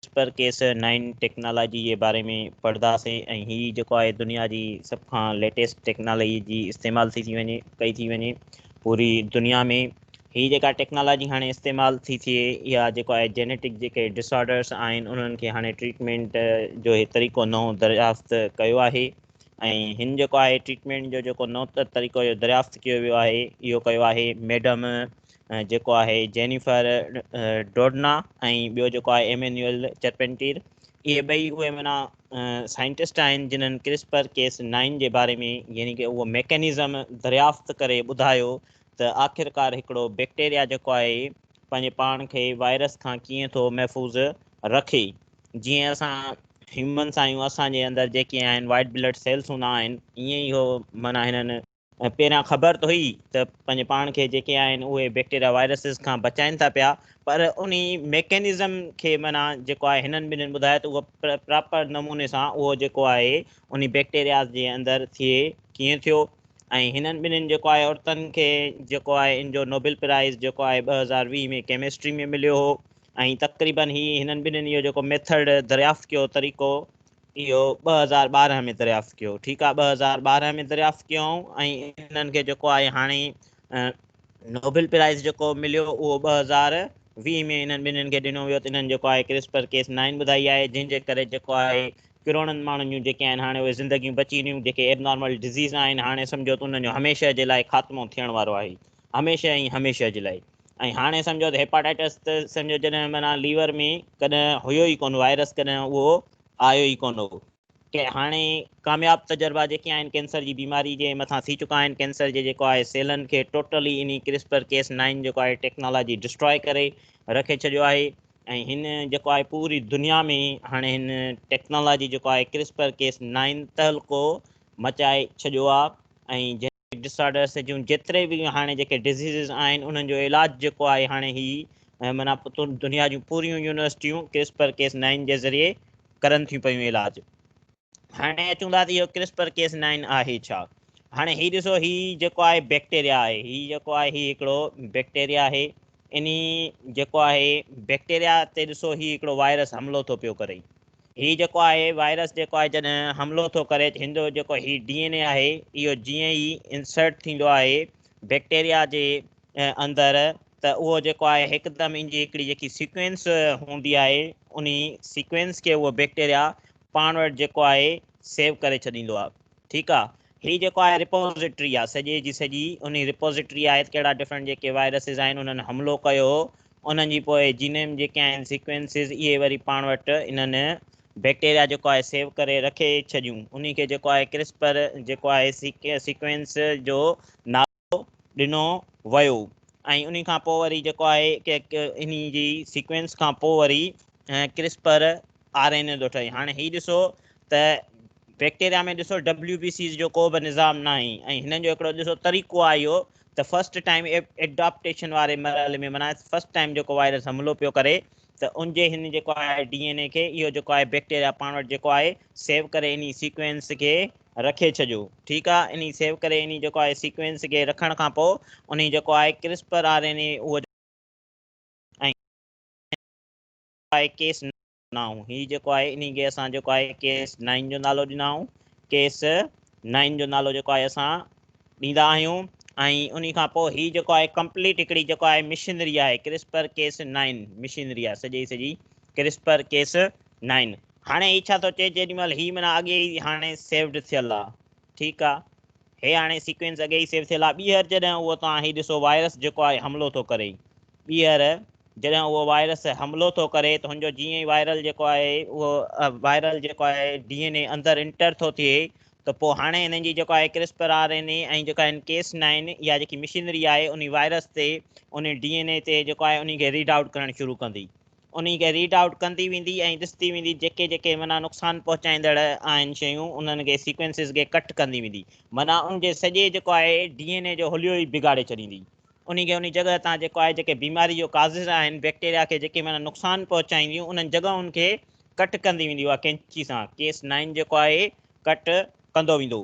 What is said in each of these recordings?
Whisper Cas nine technology جي باري ۾ پڙھداسين ۽ ھي جيڪو آھي دنيا جي سڀ کان ليٽيسٽ ٽيڪنالاجي جي استعمال ٿي ٿي وڃي ڪئي ٿي وڃي پوري دنيا ۾ ھي جيڪا ٽيڪنالاجي ھاڻي استعمال ٿي ٿئي اھا جيڪو آھي جينيٽڪ جيڪي ڊسآرڊرس آھن انھن کي ھاڻي ٽريٽمينٽ جو ھي طريقو نئون دريافت ڪيو آھي ۽ ھن جيڪو آھي ٽريٽمينٽ جو جيڪو نئون طريقو جو دريافت ڪيو ويو آھي اھو ڪيو آھي ميڊم جيڪو آهي جينيفر ڊوڊنا ۽ ٻيو جيڪو آهي ايمينيول چرپينٽير اهي ٻئي اهي منا سائنٽسٽ آهن جنن ڪرسپر ڪيس نائن جي باري ۾ يعني ڪي اهو ميڪنزم دريافت ڪري ٻڌايو ته آخرڪار هڪڙو بيڪٽيريا جيڪو آهي پنهنجي پاڻ کي وائرس کان ڪيئن ٿو محفوظ رکي جيئن اسان هيومنس آهيون اسان جي اندر جيڪي آهن وائٽ بلڊ سيلس هوندا آهن ائين ئي هو منا هنن ۽ پهريان خبر ته هئي ته پنهنجي پاڻ کي جيڪي آهن اهي بيڪٽيريا وائرسز کان بچائين ٿا پيا پر انهي ميڪينزم کي معنيٰ جيڪو آهي هنن ٻنهين ٻڌايو ته اهو پراپر نموني سان اهو جيڪو آهي انهي بيڪٽيرياز جي اندر ٿئي ڪيئن ٿيو ۽ هنن ٻنهين جيڪو آهي عورتن کي جيڪو آهي ان جو نوبل پرائز جيڪو آهي ٻه هزار ويهه ۾ ڪيمسٽري ۾ مليو هو ۽ تقريبن هي هنن ٻنهين اهو جيڪو ميٿڊ دريافت ڪيو طريقو اهو ٻه هزار ٻارهن ۾ دريافت ڪيو ٺيڪ آهي ٻه هزار ٻارهن ۾ دريافت ڪيائون ۽ انهن کي جيڪو آهي هاڻي نوبل پرائز جيڪو مليو اهو ٻه هزار ويهه ۾ انهن ٻنهن کي ڏنو ويو ته انهن جيڪو آهي ڪرسپر ڪيس نائن ٻڌائي آهي جنهن جي ڪري جيڪو آهي ڪروڙن ماڻهن جون جيڪي آهن هاڻي اهي زندگيون بچي ويون جيڪي ايب نارمل ڊزيز آهن هاڻي سمجھو ته انهن جو هميشه جي لاء خاتمو ٿيڻ وارو آهي هميشه ۽ هميشه جي لاء ۽ هاڻي سمجھو ته هيپاٽائٽس ته سمجھو جڏهن معنيٰ ليور ۾ ڪڏهن هيو ئي ڪون وائرس ڪڏهن اهو آيو ئي ڪونه هو. هاڻي ڪامياب تجربا جيڪي آهن ڪينسر جي بيماري جي مٿان ٿي چڪا آهن. ڪينسر جي جيڪو آهي سيلن کي ٽوٽلي انهي ڪرسپر ڪيس نائن جيڪو آهي ٽيڪنالاجي ڊسٽراء ڪري رکي ڇڏيو آهي ۽ هن جيڪو آهي پوري دنيا ۾ هاڻي هن ٽيڪنالاجي جيڪو آهي ڪرسپر ڪيس نائن تهلڪو مچائي ڇڏيو آهي ۽ ڊسارڊرس جون جيتري به هاڻي جيڪي ڊزيزز آهن انهن جو علاج جيڪو آهي هاڻي هي معنيٰ دنيا جون پوريون يونيورسٽيون ڪرسپر ڪيس نائن جي ذريعي ڪرن ٿيون پيون علاج هاڻي اچون ٿا ته اهو ڪرسپر ڪيس نائن آهي ڇا هاڻي هي ڏسو هي جيڪو آهي بيڪٽيريا آهي هي جيڪو آهي هي هڪڙو بيڪٽيريا آهي انهي جيڪو آهي بيڪٽيريا تي ڏسو هي هڪڙو وائرس حملو ٿو پيو ڪري هي جيڪو آهي وائرس جيڪو آهي جڏهن حملو ٿو ڪري هن جو جيڪو هي ڊي اين اي آهي اهو جيئن ئي انسرٽ ٿيندو آهي بيڪٽيريا جي اندر ته اهو جيڪو آهي هڪدم ان جي هڪڙي جيڪي سيڪوينس هوندي آهي انهي سيڪوينس کي اهو بيڪٽيريا پاڻ وٽ جيڪو آهي سيو ڪري ڇڏيندو آهي ٺيڪ آهي هي جيڪو آهي رپوزيٽري آهي سڄي جي سڄي انهي رپوزيٽري آهي ته ڪهڙا ڊفرنٽ جيڪي وائرسز آهن انهن حملو ڪيو انهن جي پوء جينيم جيڪي آهن سيڪوينسز اهي وري پاڻ وٽ انهن بيڪٽيريا جيڪو آهي سيو ڪري رکي ڇڏيون انهي کي جيڪو آهي ڪرسپر جيڪو آهي سيڪوينس جو نالو ڏنو ويو ۽ انهي کان پوء وري جيڪو آهي انهي جي سيڪوينس کان پوء وري ڪرسپر آر اين اي ٿو ٺهي هاڻي هي ڏسو ته بيڪٽيريا ۾ ڏسو ڊبليو بي سيز جو ڪو به نظام ناهي ۽ هنن جو هڪڙو ڏسو طريقو آهي اهو ته فرسٽ ٽائيم ايڊاپٽيشن واري مرحلي ۾ معنيٰ فرسٽ ٽائيم جيڪو وائرس حملو پيو ڪري ته ان جي هن جيڪو آهي ڊي اين اي کي اهو جيڪو آهي بيڪٽيريا پاڻ وٽ جيڪو آهي سيو ڪري انهي سيڪوينس کي رکي ڇڏيو ٺيڪ آهي انهي سيو ڪري انهي جيڪو آهي سيڪوينس کي رکڻ کان پوء انهي جيڪو آهي ڪرسپر آر اين اي اهو آهي ڪيس ڏنائون هي جيڪو آهي انهي کي اسان جيڪو آهي ڪيس نائن جو نالو ڏنائون ڪيس نائن جو نالو جيڪو آهي اسان ڏيندا آهيون ۽ انهي کان پوء هي جيڪو آهي ڪمپليٽ هڪڙي جيڪو آهي مشينري آهي ڪرسپر ڪيس نائن مشينري آهي سڄي سڄي ڪرسپر ڪيس نائن هاڻي هي ڇا ٿو چئي جيڏي مهل هي منا اڳي ئي هاڻي سيوڊ ٿيل آهي ٺيڪ آهي هي هاڻي سيڪوينس اڳي ئي سيو ٿيل آهي ٻيهر جڏهن اهو توهان هي ڏسو وائرس جيڪو آهي حملو ٿو ڪري ٻيهر جڏهن اهو وائرس حملو ٿو ڪري ته هن جو جيئن ئي وائرل جيڪو آهي اهو وائرل جيڪو آهي ڊي اين اي اندر انٽر ٿو ٿئي ته پوء هاڻي هنن جي جيڪو آهي ڪرسپر آر اين اي ۽ جيڪا هن ڪيس نائن اها جيڪي مشينري آهي انهي وائرس تي انهي ڊي اين اي تي جيڪو آهي انهي کي ريڊ آئوٽ ڪرڻ شروع ڪندي انهي کي ريڊ آئوٽ ڪندي ويندي ۽ ڏسندي ويندي جيڪي جيڪي معنيٰ نقصان پهچائيندڙ آهن شيون انهن کي سيڪوينسز کي ڪٽ ڪندي ويندي معنيٰ ان جي سڄي جيڪو آهي ڊي اين اي جو حليو ئي بگاڙي ڇڏيندي انهي کي انهي جڳهه تان جيڪو آهي جيڪي بيماري جو ڪازز آهن بيڪٽيريا کي جيڪي معنيٰ نقصان پهچائينديون انهن جڳهن کي ڪٽ ڪندي ويندي اها ڪينچي سان ڪيس نائن جيڪو آهي ڪٽ ڪندو ويندو.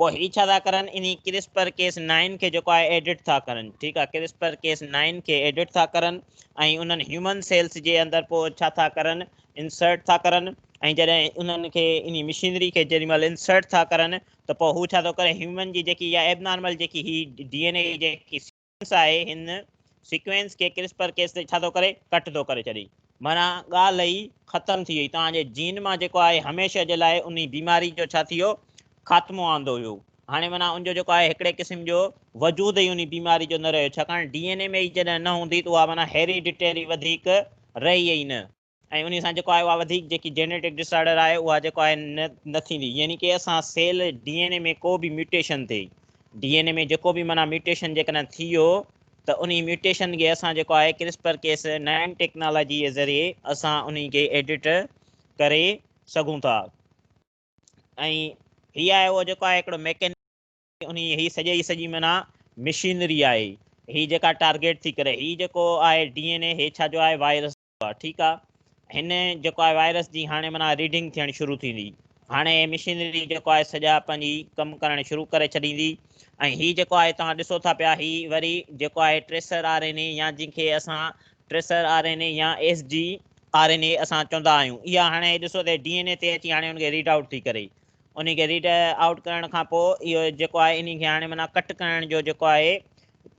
پوء هي ڇا ٿا ڪرن انهي ڪرسپر ڪيس نائن کي جيڪو آهي ايڊٽ ٿا ڪرن ٺيڪ آهي ڪرسپر ڪيس نائن کي ايڊٽ ٿا ڪرن ۽ انهن هيومن سيلس جي اندر پوء ڇا ٿا ڪرن انسرٽ ٿا ڪرن ۽ جڏهن انهن کي انهي مشينري کي جيڏي مهل انسرٽ ٿا ڪرن ته پوء هو ڇا ٿو ڪري هيومن جي جيڪي اها ايبنارمل جيڪي هي ڊي اين اي جيڪي سائنس آهي هن سيڪوينس کي ڪرسپر ڪيس تي ڇا ٿو ڪري ڪٽ ٿو ڪري ڇڏي معنيٰ ڳالهه ئي ختم ٿي وئي توهان جي جين مان جيڪو آهي هميشه جي لاء انهي بيماري جو ڇا ٿيو خاتمو آندو ويو هاڻي معنيٰ ان جو جيڪو آهي هڪڙي قسم جو وجود ئي انهي بيماري جو نه رهيو ڇاڪاڻ ڊي اين اي ۾ ئي جڏهن نه هوندي ته اها معنيٰ هيري ڊٽيري وڌيڪ رهي ئي نه. ۽ انهي سان جيڪو آهي اها وڌيڪ جيڪي جينيٽڪ ڊس آرڊر آهي اها جيڪو آهي نه ٿيندي يعني ڪي اسان سيل ڊي اين اي ۾ ڪو به ميوٽيشن ٿئي ڊي اين اي ۾ جيڪو به معنيٰ ميوٽيشن جيڪڏهن ٿي ويو ته انهي ميوٽيشن کي اسان جيڪو آهي ڪرسپر ڪيس نئين ٽيڪنالاجي جي ذريعي اسان انهي کي ايڊٽ ڪري سگهون ٿا ۽ هي آهي اهو جيڪو آهي هڪڙو ميڪين انهي هي سڄي جي سڄي معنيٰ مشينري آهي هي جيڪا ٽارگيٽ ٿي ڪري هي جيڪو آهي ڊي اين اي هي ڇا جو آهي وائرس ٺيڪ آ هن جيڪو آهي وائرس جي هاڻي معنيٰ ريڊنگ ٿيڻ شروع ٿيندي هاڻي مشينري جيڪو آهي سڄا پنهنجي ڪم ڪرڻ شروع ڪري ڇڏيندي ۽ هي جيڪو آهي توهان ڏسو ٿا پيا هي وري جيڪو آهي ٽريسر آر اين اي يا جن کي اسان ٽريسر آر اين اي يا S G R N A اسان چوندا آهيون اها هاڻي ڏسو ته ڊي اين اي تي اچي هاڻي ان کي ريڊ آؤٽ ٿي ڪري ان کي ريڊ آؤٽ ڪرڻ کان پوء اهو جيڪو آهي ان کي هاڻي معنيٰ ڪٽ ڪرڻ جو جيڪو آهي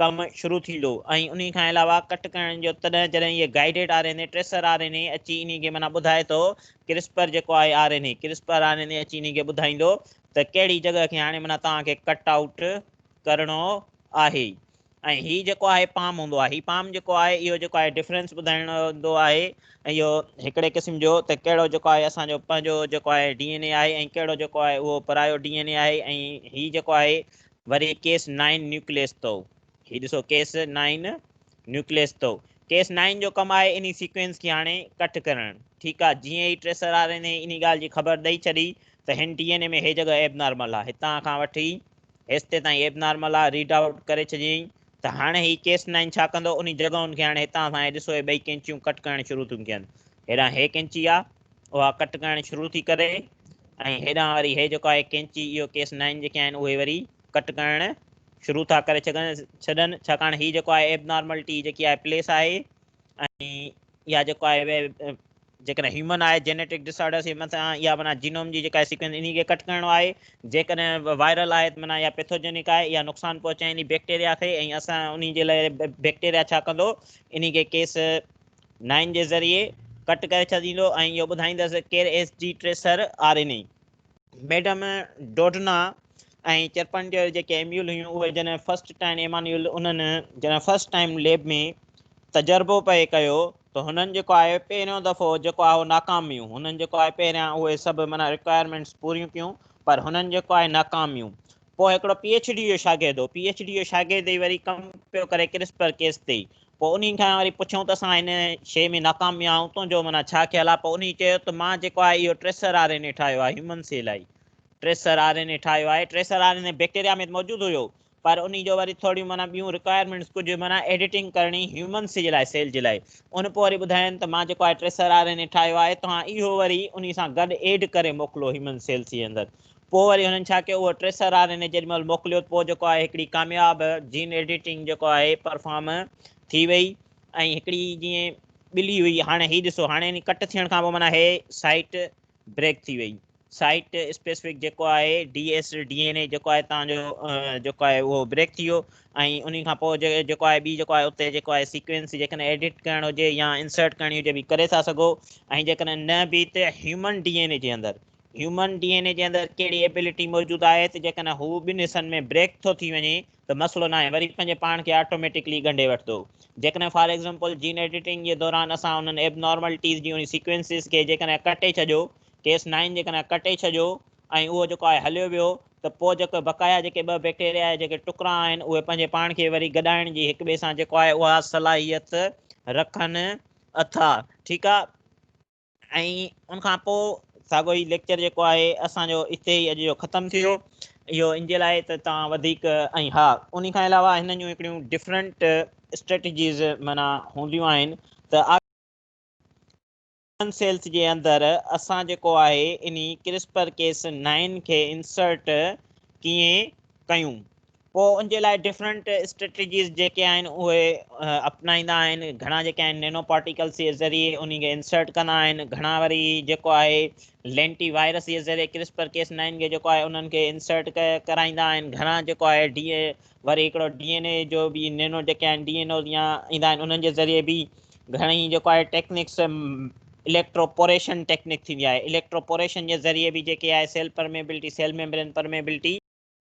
ڪم شروع ٿيندو ۽ انهي کان علاوه ڪٽ ڪرڻ جو تڏهن جڏهن هيء guided R N A tracer R N A اچي انهي کي معنيٰ ٻڌائي ٿو ڪرسپر جيڪو آهي R N A CRISPR R N A اچي انهي کي ٻڌائيندو ته ڪهڙي جڳهه کي هاڻي معنيٰ توهان کي ڪٽ آئوٽ ڪرڻو آهي ۽ هي جيڪو آهي پام هوندو آهي هي پام جيڪو آهي اهو جيڪو آهي ڊفرنس ٻڌائڻو هوندو آهي ۽ اهو هڪڙي قسم جو ته ڪهڙو جيڪو آهي اسان جو پنهنجو جيڪو آهي ڊي اين اي آهي ۽ ڪهڙو جيڪو آهي اهو پرايو ڊي اين اي آهي ۽ هي جيڪو آهي وري ڪيس نائن نيوڪليس تو هي ڏسو ڪيس نائن نيوڪليس تو ڪيس نائن جو ڪم آهي انهي سيڪوينس کي هاڻي ڪٽ ڪرڻ ٺيڪ آهي جيئن ئي ٽريسر آر اين اي انهي ڳالهه جي خبر ڏئي ڇڏي ته هن ڊي اين اي ۾ هي جڳهه ايب نارمل آهي هتان کان وٺي هيستي تائين ايب نارمل آهي ريڊ آئوٽ ڪري ڇڏيائين ته هاڻي هي ڪيس نائن ڇا ڪندو انهي جڳهن کي هاڻي هتان سان هي ڏسو هي ٻئي ڪينچيون ڪٽ ڪرڻ شروع ٿيون ڪين هيڏانهن هي ڪينچي آ اها ڪٽ ڪرڻ شروع ٿي ڪري ۽ هيڏانهن وري هي جيڪو آهي ڪينچي اهو ڪيس نائن جيڪي آهن اهي وري ڪٽ ڪرڻ شروع ٿا ڪري ڇڏن ڇڏن ڇاڪاڻ هي جيڪو آهي ايب نارملٽي جيڪي آهي پليس آهي ۽ اها جيڪو آهي جيڪڏهن هيومن آهي جينيٽڪ ڊسآرڊرس جي مٿان اها معنی جينوم جي جيڪا سيڪوينس ان کي ڪٽ ڪرڻو آهي جيڪڏهن وائرل آهي معنی اها پيٿوجينڪ آهي اها نقصان پهچائيندي بيڪٽيريا کي ۽ اسان ان جي لاء بيڪٽيريا ڇا ڪندو ان کي ڪيس نائن جي ذريعي ڪٽ ڪري ڇڏيندو ۽ اهو ٻڌائيندس ڪير S G tracer RNA. Madam Doudna ۽ Charpentier جيڪي ايميول هيون اهي جڏهن فرسٽ ٽائن ايمانيول انهن جڏهن فرسٽ ٽائم ليب ۾ تجربو پئي ڪيو ته هنن جيڪو آهي پهريون دفعو جيڪو آهي اهو ناڪام ويون هنن جيڪو آهي پهريان اهي سڀ معنيٰ رڪوائرمينٽس پوريون ڪيون پر هنن جيڪو آهي ناڪام ويون پوء هڪڙو پي ايڇ ڊي جو شاگرد هو، پي ايڇ ڊي جو شاگرد ئي وري ڪم پيو ڪري ڪرسپر ڪيس تي، پوء انهي کان وري پڇيائون ته اسان هن شيء ۾ ناڪام ويا آهيون، تنهنجو معنيٰ ڇا خيال آهي؟ پوء انهي چيو ته مان جيڪو آهي اهو ٽريسر آر اين اي ٺاهيو آهي، هيومن سيل آهي ٽريسر آر اين اي ٺاهيو آهي، tracer R N A bacteria ۾ ته موجود هيو، پر انهي جو وري ٿوريون معنيٰ ٻيون رڪوائرمينٽس ڪجهه معنيٰ ايڊيٽنگ ڪرڻي هيومن سي جي لاء سيل جي لاء، ان پوء وري ٻڌايائين ته مان جيڪو آهي ٽريسر آر اين اي ٺاهيو آهي، توهان اهو وري انهي سان گڏ ايڊ ڪري موڪلو هيومن سيل سي اندر، پوء وري هنن ڇا ڪيو اهو ٽريسر آر ان جيڏي مهل موڪليو پوء جيڪو آهي هڪڙي ڪامياب جين ايڊيٽنگ جيڪو آهي پرفارم ٿي وئي ۽ هڪڙي جيئن ٻلي هئي هاڻي هي ڏسو هاڻي ان ڪٽ ٿيڻ کان پوء معنيٰ هي سائيٽ بريڪ ٿي وئي سائيٽ اسپيسفڪ جيڪو آهي D S D N A جيڪو آهي تان جو جيڪو آهي اهو بريڪ ٿي ويو ۽ ان کان پوء جيڪو آهي ٻي جيڪو آهي اتي جيڪو آهي سيڪوينس جيڪڏهن ايڊيٽ ڪرڻ هجي يا انسرٽ ڪرڻي هجي به ڪري ٿا سگهو ۽ جيڪڏهن نه به ته هيومن ڊي اين اي جي اندر هيومن ڊي اين اي جي اندر ڪهڙي ايبلٽي موجود آهي ته جيڪڏهن هو ٻن حصن ۾ بريڪ ٿو ٿي وڃي ته مسئلو ناهي وري پنهنجي پاڻ کي آٽوميٽڪلي ڳنڍي وٺندو جيڪڏهن فار ايگزامپل جين ايڊيٽنگ جي دوران اسان انهن ايبنارملٽيز جي انهي سيڪوينسز کي جيڪڏهن ڪٽي ڇڏيو ڪيس نائن جيڪڏهن ڪٽي ڇڏيو ۽ اهو جيڪو آهي هليو ويو ته پوء جيڪو بقايا جيڪي ٻه بيڪٽيريا جا جيڪي ٽڪرا آهن اهي پنهنجي پاڻ کي وري گڏائڻ جي هڪ ٻئي سان جيڪو آهي اها صلاحيت رکن ٿا ٺيڪ آهي ۽ ان کان پوء ساڳيو ئي ليڪچر جيڪو آهي اسان جو اتي ئي اڄ جو ختم ٿيو. اهو ان جي لاء ته توهان وڌيڪ ۽ ها انهي کان علاوه هنن جون هڪڙيون ڊفرنٽ اسٽريٽجيز معنيٰ هونديون آهن ته آخر هيومن سيلز جي اندر اسان جيڪو آهي انهي ڪرسپر ڪيس نائن کي انسرٽ ڪيئن ڪيون پوء ان جي لاء ڊفرنٽ اسٽريٽجيز جيڪي آهن اهي اپنائيندا آهن گهڻا جيڪي آهن نينو پارٽيڪلس جي ذريعي انهي کي انسرٽ ڪندا آهن گهڻا وري جيڪو آهي لينٽي وائرس جي ذريعي ڪرسپر ڪيس نائن کي جيڪو آهي انهن کي انسرٽ ڪرائيندا آهن گهڻا جيڪو آهي ڊي وري هڪڙو ڊي اين اي جو به نينو جيڪي آهن ڊي اين اوز يا ايندا آهن انهن جي ذريعي به گهڻي جيڪو آهي ٽيڪنڪس اليڪٽروپوريشن ٽيڪنڪ ٿيندي آهي اليڪٽروپوريشن جي ذريعي به جيڪي آهي cell permeability cell membrane permeability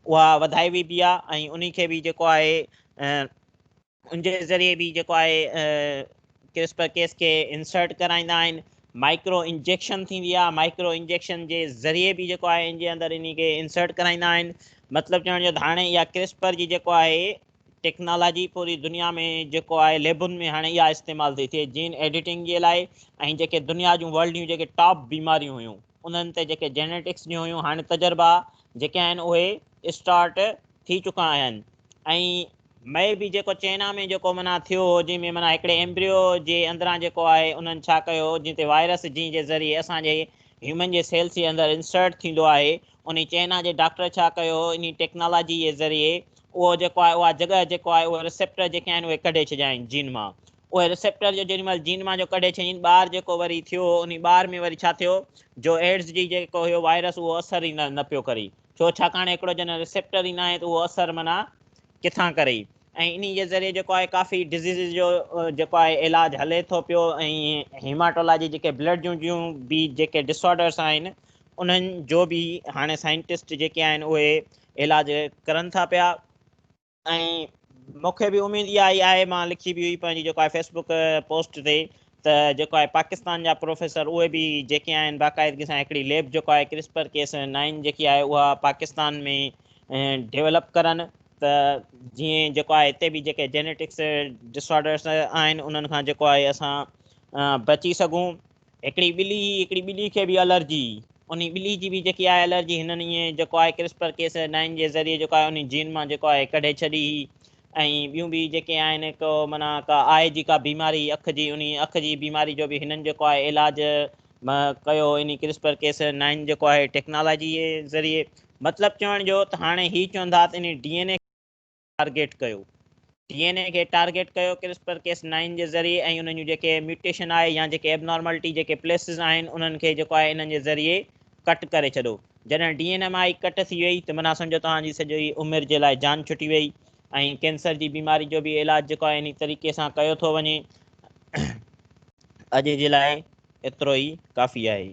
اها وڌائي ويبي آهي ۽ انهي کي به جيڪو آهي ان جي ذريعي به جيڪو آهي ڪرسپر ڪيس کي انسرٽ ڪرائيندا آهن مائڪرو انجيڪشن ٿيندي آهي مائڪرو انجيڪشن جي ذريعي به جيڪو آهي ان جي اندر انهي کي انسرٽ ڪرائيندا آهن مطلب چوڻ جو هاڻي اها ڪرسپر جي جيڪو آهي ٽيڪنالاجي پوري دنيا ۾ جيڪو آهي ليبن ۾ هاڻي اها استعمال ٿي ٿئي جين ايڊيٽنگ جي لاء ۽ جيڪي دنيا جون ورلڊ جون جيڪي ٽاپ بيماريون هيون انهن تي جيڪي جينيٽڪس جون هيون هاڻي تجربا جيڪي آهن اهي اسٽارٽ ٿي چڪا آهن ۽ مئي به جيڪو چئنا ۾ جيڪو معنيٰ ٿيو هو جنهن ۾ معنيٰ هڪڙي ايمبريو جي اندران جيڪو آهي انهن ڇا ڪيو هو جنهن تي وائرس جنهن جي ذريعي اسان جي هيومن جي سيلس جي اندر انسرٽ ٿيندو آهي انهي چئنا جي ڊاڪٽر ڇا ڪيو هو انهي ٽيڪنالاجي جي ذريعي اهو جيڪو آهي اها جڳهه جيڪو آهي اهي رسيپٽر جيڪي آهن اهي ڪڍي ڇڏيا آهن جين مان اهي ريسيپٽر جو جيڏي مهل جين مان جو ڪڍي ڇڏين ٻار جيڪو وري ٿيو انهي ٻار ۾ وري ڇا ٿيو جو ايڊز جي جيڪو هيو وائرس اهو اثر ئي نه نه پيو ڪري ڇو ڇاڪاڻ هڪڙو جڏهن ريسيپٽر ئي ناهي ته اهو اثر معنيٰ ڪٿان ڪري ۽ انهي جي ذريعي جيڪو آهي ڪافي ڊزيزز جو جيڪو آهي علاج هلي ٿو پيو ۽ هيماٽولاجي جيڪي بلڊ جون جون به جيڪي ڊس آرڊرس آهن انهن جو به هاڻي سائنٽسٽ جيڪي آهن اهي علاج ڪرن ٿا پيا. ۽ مون کي به اميد اها ئي آهي مان لکي به هئي پنهنجي جيڪو آهي فيس بڪ پوسٽ تي ته جيڪو آهي پاڪستان جا پروفيسر اهي به جيڪي آهن باقاعدگي سان هڪڙي ليب جيڪو آهي ڪرسپر ڪيس نائن جيڪي آهي اها پاڪستان ۾ ڊيولپ ڪرن ته جيئن جيڪو آهي هتي به جيڪي جينيٽڪس ڊسآرڊرس آهن انهن کان جيڪو آهي اسان بچي سگهون هڪڙي ٻلي هئي هڪڙي ٻلي کي به الرجي هئي انهي ٻلي جي به جيڪي آهي الرجي هنن ائين جيڪو آهي ڪرسپر ڪيس نائن جي ذريعي جيڪو آهي انهي جين مان جيڪو آهي ڪڍي ڇڏي هئي ۽ ٻيون به جيڪي آهن ڪو معنيٰ ڪا آء جي ڪا بيماري هئي اک جي انهي اک جي بيماري جو به هنن جيڪو آهي علاج ڪيو انهي ڪرسپر ڪيس نائن جيڪو آهي ٽيڪنالاجي جي ذريعي مطلب چوڻ جو ته هاڻي هي چون ٿا ته انهي ڊي اين اي ٽارگيٽ ڪيو. ڊي اين اي کي ٽارگيٽ ڪيو ڪرسپر ڪيس نائن جي ذريعي ۽ انهن جون جيڪي ميوٽيشن آهي يا جيڪي ائبنارملٽي جيڪي پليسز آهن انهن کي جيڪو آهي انهن جي ذريعي ڪٽ ڪري ڇڏو. جڏهن D N M I cut ٿي وئي ته معنيٰ سمجهو توهان جي سڄي عمر جي لاء جان ڇٽي وئي ۽ ڪينسر جي بيماري جو به علاج جيڪو آهي انهي طريقي سان ڪيو ٿو وڃي. اڄ جي لاء ايترو ئي ڪافي آهي.